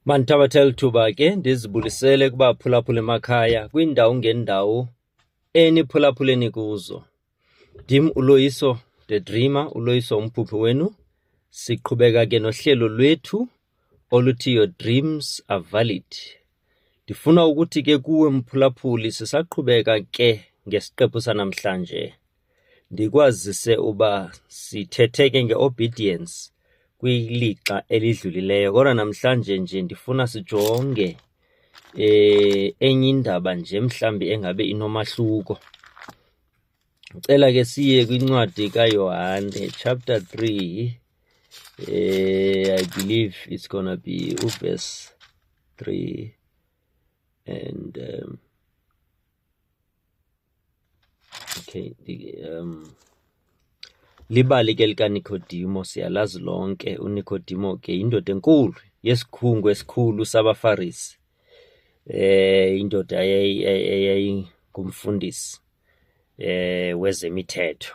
Mandithabathe lithuba ke ndizibulisele kubaphulaphuli emakhaya kwiindawo ngeendawo eniphulaphuleni kuzo. Ndim uLoyiso the Dreamer, uLoyiso umphuphi wenu. Siqhubeka ke nohlelo lwethu oluthi Your Dreams Are Valid. Ndifuna ukuthi ke kuwe mphulaphuli sisaqhubeka ke ngesiqephu sanamhlanje. Ndikwazise uba sithethe ke nge-obedience kwilixa elidlulileyo kodwa namhlanje nje ndifuna sijonge eh enye indaba nje mhlambi engabe inomahluko. Cela ke siye kwincwadi kaYohane chapter 3 eh I believe it's gonna be verse 3 and um, Okay, um libali ke likaNikodimo siyalazi lonke uNikodimo ke indoda enkulu yesikhungu esikhulu sabaFarisi eh indoda eyayingumfundisi eh wezemithetho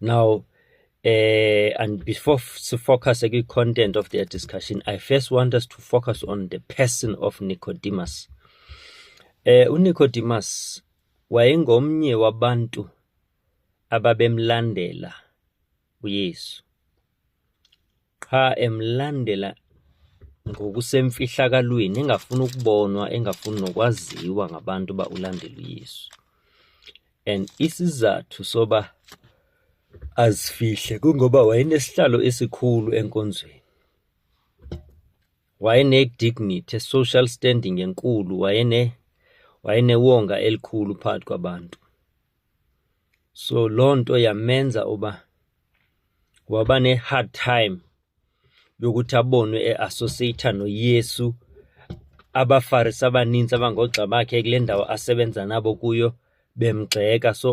Now, uh, and before f- to focus on the content of their discussion, I first want us to focus on the person of Nicodemus. Eh uNicodemus wayengomnye wabantu ababemlandela uYesu. qha emlandela ngokusemfihlakalweni engafuni ukubonwa engafuni nokwaziwa ngabantu uba ulandela uyesu and isizathu soba azifihle kungoba wayenesihlalo esikhulu enkonzweni wayenedignity social standing enkulu wayene wayenewonga elikhulu phakathi kwabantu so loo nto yamenza uba waba ne-hard time yokuthi abonwe eassociata noyesu abafarisi abaninzi abangogxa bakhe kule ndawo asebenza nabo kuyo bemgxeka so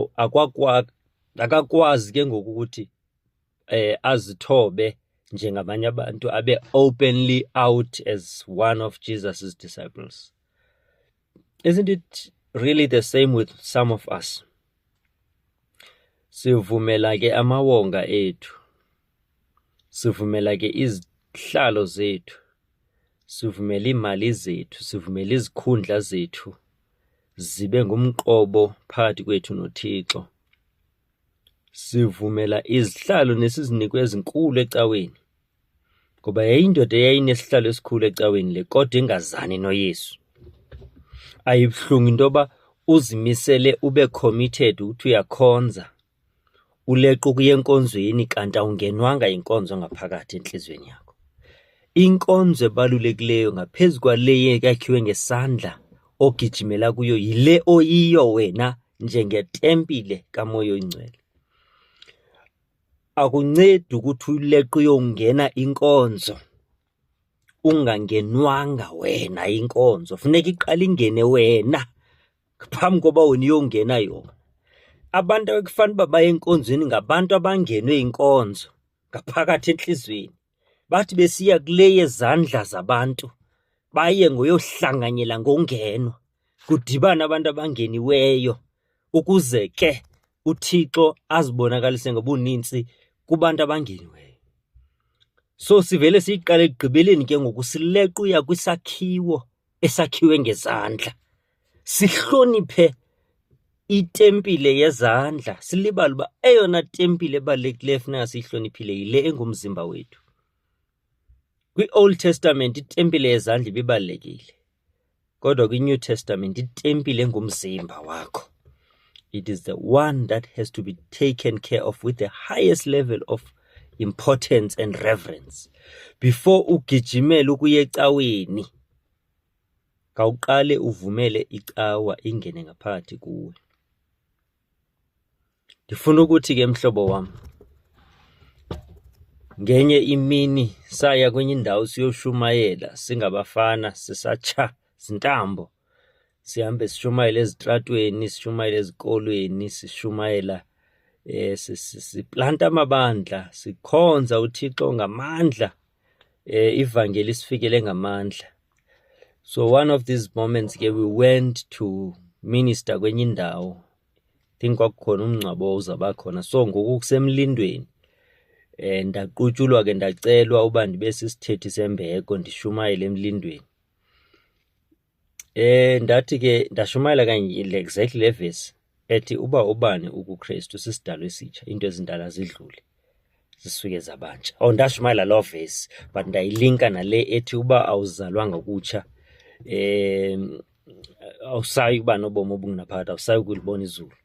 akakwazi ke ngoku ukuthi eh azithobe njengabanye abantu abe openly out as one of Jesus's disciples Isn't it really the same with some of us? Sivumela ke amawonga ethu. Sivumela ke izihlalo zethu. Sivumela imali zethu, sivumela izikhundla zethu zibe ngumqobo phakathi kwethu noThixo. Sivumela izihlalo nesizinikwe ezinkulu ecaweni ngoba yayindoda eyayinesihlalo esikhulu ecaweni le kodwa ingazani noyesu ayibuhlungu into yoba uzimisele ube committed ukuthi uyakhonza uleqa ukuya enkonzweni kanti awungenwanga yinkonzo ngaphakathi enhliziyweni yakho inkonzo ebalulekileyo ngaphezu kwale yakhiwe ngesandla ogijimela kuyo yile oyiyo wena njengetempile kamoya oyingcwele Akuncedi ukuthi uyileqe uyongena inkonzo ungangenwanga wena inkonzo, funeka iqale ingene wena phambi koba wena uyongena yona. Abantu ekufanele uba baye enkonzweni ngabantu abangenwe inkonzo ngaphakathi entliziyweni. bathi besiya kule yezandla zabantu baye ngoyohlanganyela ngongenwa kudibana abantu abangeniweyo ukuze ke uThixo azibonakalise ngobuninzi kubantu abangeniweyo so sivele siyiqale ekugqibeleni ke ngoku silequya kwisakhiwo esakhiwe ngezandla, sihloniphe itempile yezandla, silibale uba eyona tempile ebalulekileyo funeka siyihloniphile yile engumzimba wethu. Kwi-Old Testament itempile yezandla ibibalulekile, kodwa kwi-New Testament itempile engumzimba wakho. It is the one that has to be taken care of with the highest level of importance and reverence before ugijimele ukuya ecaweni kawuqale uvumele icawa ingene ngaphakathi kuwe ndifuna ukuthi ke mhlobo wam ngenye imini saya kwenye indawo siyoshumayela singabafana sisatsha zintambo sihambe sishumayela ezitratweni sishumayela ezikolweni sishumayela eh siplanta amabandla sikhonza uThixo ngamandla eh ivangeli sifikele ngamandla so one of these moments ke we went to minister kwenye indawo think kwakukhona umngcwabo uzaba khona so ngoku kusemlindweni eh ndaqutshulwa ke ndacelwa uba ndibe sisithethi sembeko ndishumayele emlindweni Eh ndathi ke ndashumayela kanye exactly le verse ethi uba ubani ukuKristu sisidalo esitsha into ezindala zidlule zisuke zabantsha. Oh ndashumayela lo verse but ndayilinka nale ethi uba awuzalwanga kutsha eh awusayi kuba nobomi obungunaphakade awusayi ukulibona izulu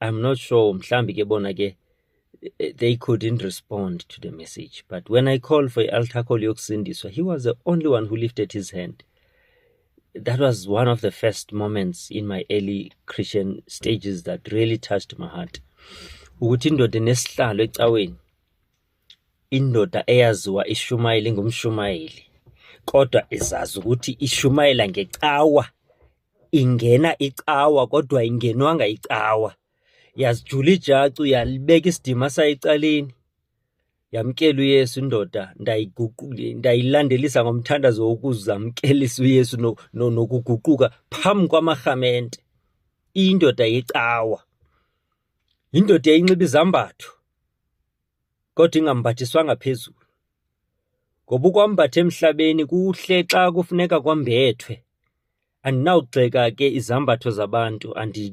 I'm not sure mhlambi ke bona ke eh, they couldn't respond to the message but when I called for i-altar call yokusindiswa he was the only one who lifted his hand that was one of the first moments in my early Christian stages that really touched my heart ukuthi indoda enesihlalo ecaweni indoda eyaziwa ishumayeli ngumshumayeli kodwa izazi ukuthi ishumayela ngecawa ingena icawa kodwa ingenwanga icawa yazijula ijacu yalibeka isidima sayicaleni yamkela uyesu indoda ndayilandelisa ngomthandazo wokuzamkelisa uyesu nokuguquka phambi kwamarhamente indoda yecawa yindoda eyinxiba izambatho kodwa ingambathiswanga phezulu. Ngoba ukwambatha emhlabeni kuhle xa kufuneka kwambethwe. Andinawugxeka ke izambatho zabantu andi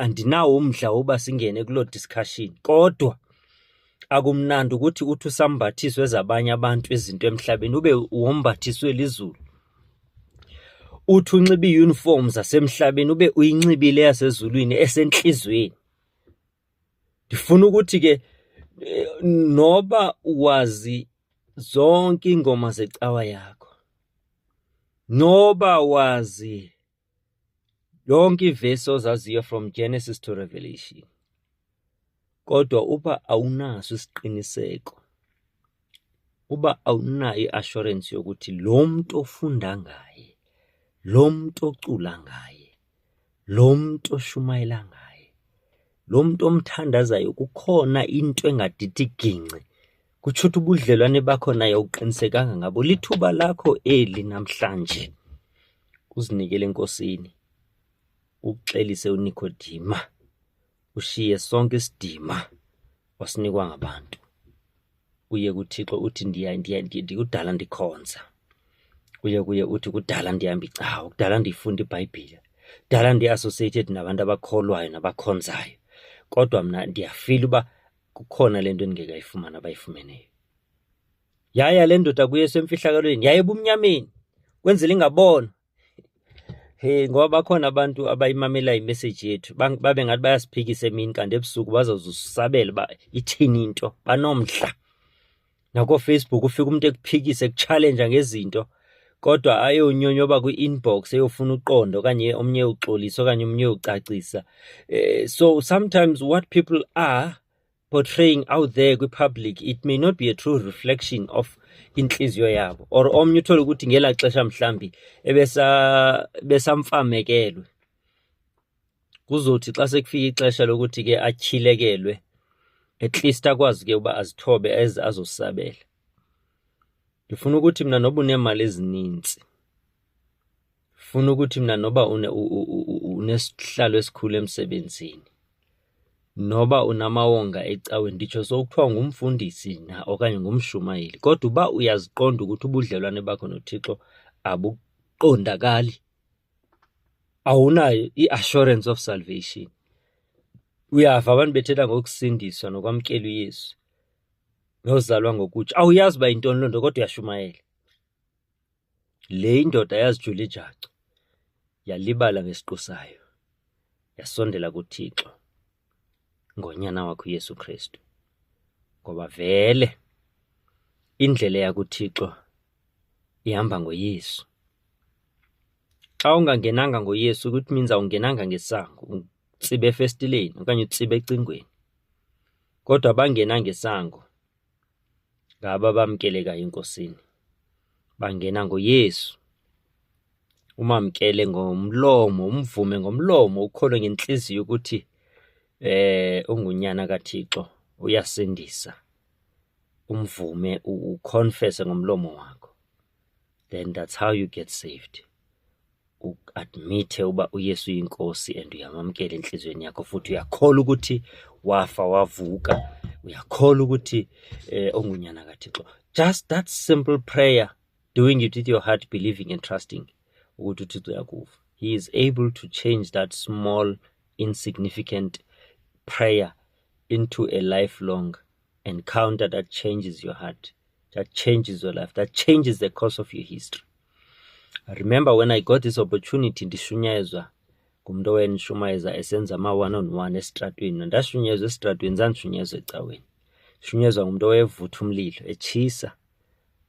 andinawo umdla woba singene kuloo discussion kodwa akumnandi ukuthi uthi usambathiswe zabanye abantu izinto emhlabeni ube wombathiswe lizulu uthi unxibe iiyunifomu zasemhlabeni ube uyinxibile yasezulwini esentliziyweni ndifuna ukuthi ke eh, noba wazi zonke iingoma zecawa yakho noba wazi yonke ivesi ozaziyo from genesis to revelation kodwa uba awunaso isiqiniseko uba awunayo i-assurance yokuthi lo mntu ofunda ngaye lo mntu ocula ngaye Lo mntu oshumayela ngaye, lo mntu omthandazayo kukhona into engadidi gingci. Kutsho ukuthi ubudlelwane bakho naye awuqinisekanga ngabo. Lithuba lakho eli namhlanje uzinikele enkosini, uxelise unikodima, ushiye sonke isidima wasinikwa ngabantu. uye kuthixo uthi ndiya ndiya ndikudala ndikhonza uye kuye uthi kudala ndihamba icawa kudala ndiyifunda ibhayibhile kudala ndi-associated nabantu abakholwayo nabakhonzayo kodwa mna ndiyafila uba kukhona le nto endingekayifumana abayifumeneyo yaya le ndoda kuye semfihlakalweni yaye ebumnyameni kwenzela ingabona Hey ngoba bakhona abantu abayimamela imessage yethu babe ngathi bayasiphikisa emini kanti ebusuku bazozusabela uba ithini into banomdla nakooFacebook ufike umuntu ekuphikise ekutshalenja ngezinto kodwa ayonyonyoba kwi-inbox eyofuna uqondo okanye omnye uxolisa okanye omnye ucacisa um eh, so sometimes what people are portraying out there kwipublic it may not be a true reflection of intliziyo yabo or omnye uthole ukuthi ngela xesha mhlambi ebesamfamekelwe kuzothi xa sekufika ixesha lokuthi ke atyhilekelwe at least akwazi ke uba azithobe eze azosabela ndifuna ukuthi mna noba uneemali ezininzi funa ukuthi mina noba unesihlalo esikhulu emsebenzini noba unamawonga ecawe nditsho sokuthiwa ngumfundisi na okanye ngumshumayeli kodwa uba uyaziqonda ukuthi ubudlelwane bakho nothixo abuqondakali awunayo i-assurance of salvation uyava abantu bethetha ngokusindiswa nokwamkela uyesu nozalwa ngokutsho awuyazi uba yintoni loo nto kodwa uyashumayela Le indoda yazijula ijacu, yalibala ngesiqu sayo, yasondela kuThixo ngonyana wakho uYesu Kristu. Ngoba vele indlela yakuThixo ihamba ngoYesu. Xa ungangenanga ngoYesu ukuthi means awungenanga ngesango, utsibe efestileni okanye utsibe ecingweni. Kodwa abangena ngesango ngaba bamkeleka enkosini bangena ngoyesu umamkele ngomlomo umvume ngomlomo ukholwe ngentliziyo ukuthi eh ungunyana kaThixo uyasindisa umvume uconfesse ngomlomo wakho then that's how you get saved uadmithe uba uYesu uyinkosi and uyamamkela entliziyweni yakho futhi uyakholwa ukuthi wafa wavuka uyakholwa ukuthi eh ongunyana kaThixo just that simple prayer doing it with your heart believing and trusting ukuthi uThixo uyakuva he is able to change that small insignificant prayer into a lifelong encounter that changes your heart, that changes your life, that changes the course of your history. I remember when I got this opportunity ndishunyezwa ngumntu owayenishumayeza esenza ama-one on one esitratweni ndashunyezwa esitratweni zandishunyezwa ecaweni shunyezwa ngumntu owayevutha umlilo etshisa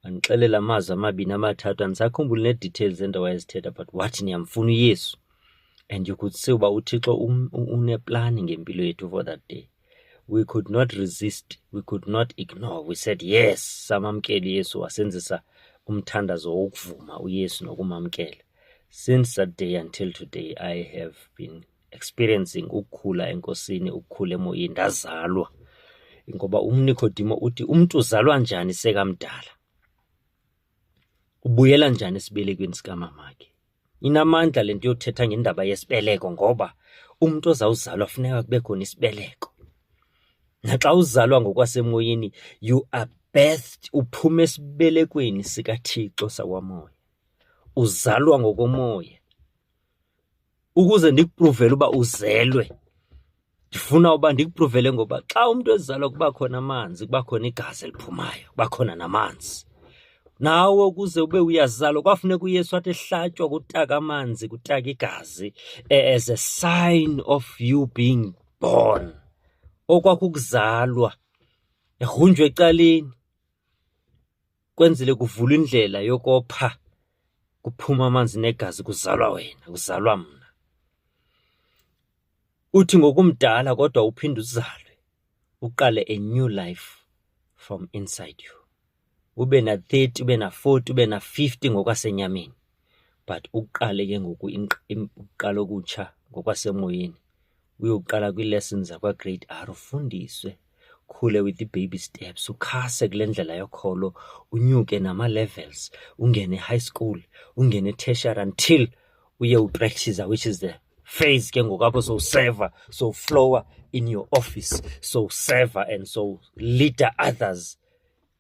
andixelela amazwi amabini amathathu andisakhumbuli nee-details ento wayezithetha but wathi ndiyamfuna uyesu and you could see uba uthixo um, uneplani ngempilo yethu for that day we could not resist we could not ignore we said yes samamkela uyesu wasenzisa umthandazo wokuvuma uyesu nokumamkela since that day until today i have been experiencing ukukhula enkosini ukukhula emoyeni ndazalwa ngoba umnikodimo uthi umntu uzalwa njani sekamdala Ubuyela njani esibelekweni sikamamakhe? Inamandla le nto yothetha ngendaba yesibeleko ngoba umntu ozawuzalwa funeka kube khona isibeleko. Naxa uzalwa ngokwasemoyeni you are birthed, uphuma esibelekweni sikaThixo sakwamoya. Uzalwa ngokomoya. ukuze ndikupruvele uba uzelwe ndifuna uba ndikupruvele ngoba xa umntu ezalwa kuba khona amanzi kuba khona igazi eliphumayo kuba khona namanzi nawe ukuze ube uyazalwa kwafuneka uyesu athi ehlatywa kutaka amanzi kutaka igazi eh, as a sign of you being born okwakukuzalwa egrunjwa ecaleni kwenzele kuvulwa indlela yokopha kuphuma amanzi negazi kuzalwa wena kuzalwa mna uthi ngokumdala kodwa uphinde uzalwe uqale a new life from inside you ube na-30 ube na-40 ube na-50 ngokwasenyameni but uqale ke ngoku uqala okutsha ngokwasemoyeni uyoqala kwii-lessons zakwagrade r ufundiswe khule with i-baby steps ukhase kule ndlela yokholo unyuke nama-levels ungene e-high school ungene e-tertiary until uye upractice which is the phase ke ngoku apho sowuseva sowuflowa in your office sowuseva and sowleader others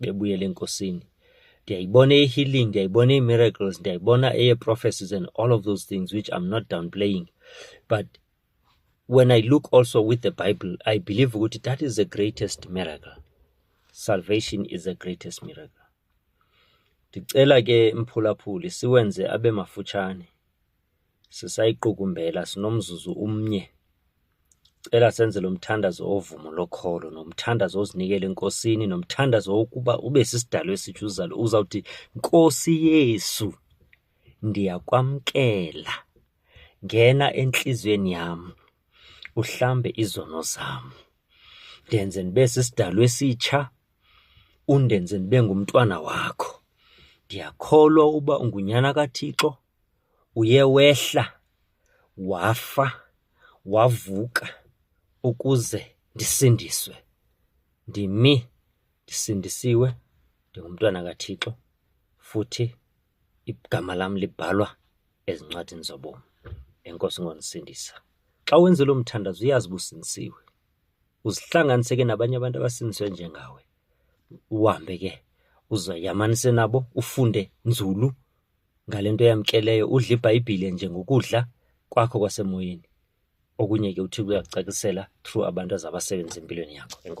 bebuyela enkosini ndiyayibona eye-healing ndiyayibona ii-miracles ndiyayibona eye-prophecies and all of those things which i'm not downplaying but when i look also with the bible i believe ukuthi that is the greatest miracle salvation is the greatest miracle ndicela ke mphulaphuli siwenze abe mafutshane Sisayiqukumbela sinomzuzu umnye. Cela senze lo mthandazo ovumo lokholo nomthandazo ozinikela enkosini nomthandazo wokuba ube sisidalo esitsho uzalo uzawuthi nkosi yesu ndiyakwamkela ngena entliziyweni yam uhlambe izono zam ndenze ndibe sisidalo esitsha undenze ndibe ngumntwana wakho ndiyakholwa uba ungunyana kathixo Uye wehla wafa wavuka ukuze ndisindiswe. Ndimi ndisindisiwe, ndingumntwana kaThixo futhi igama lam libhalwa ezincwadini zobomi. Enkosi ngondisindisa. Xa wenze lo mthandazo uyazi uba usindisiwe. Uzihlanganise ke nabanye abantu abasindiswe njengawe. Uhambe ke uzoyamanise nabo ufunde nzulu Ngale nto yamkeleyo udla iBhayibhile njengokudla kwakho kwasemoyeni. Okunye ke uThixo uyakucacisela through abantu azabasebenzisa empilweni yakho. Enkosi.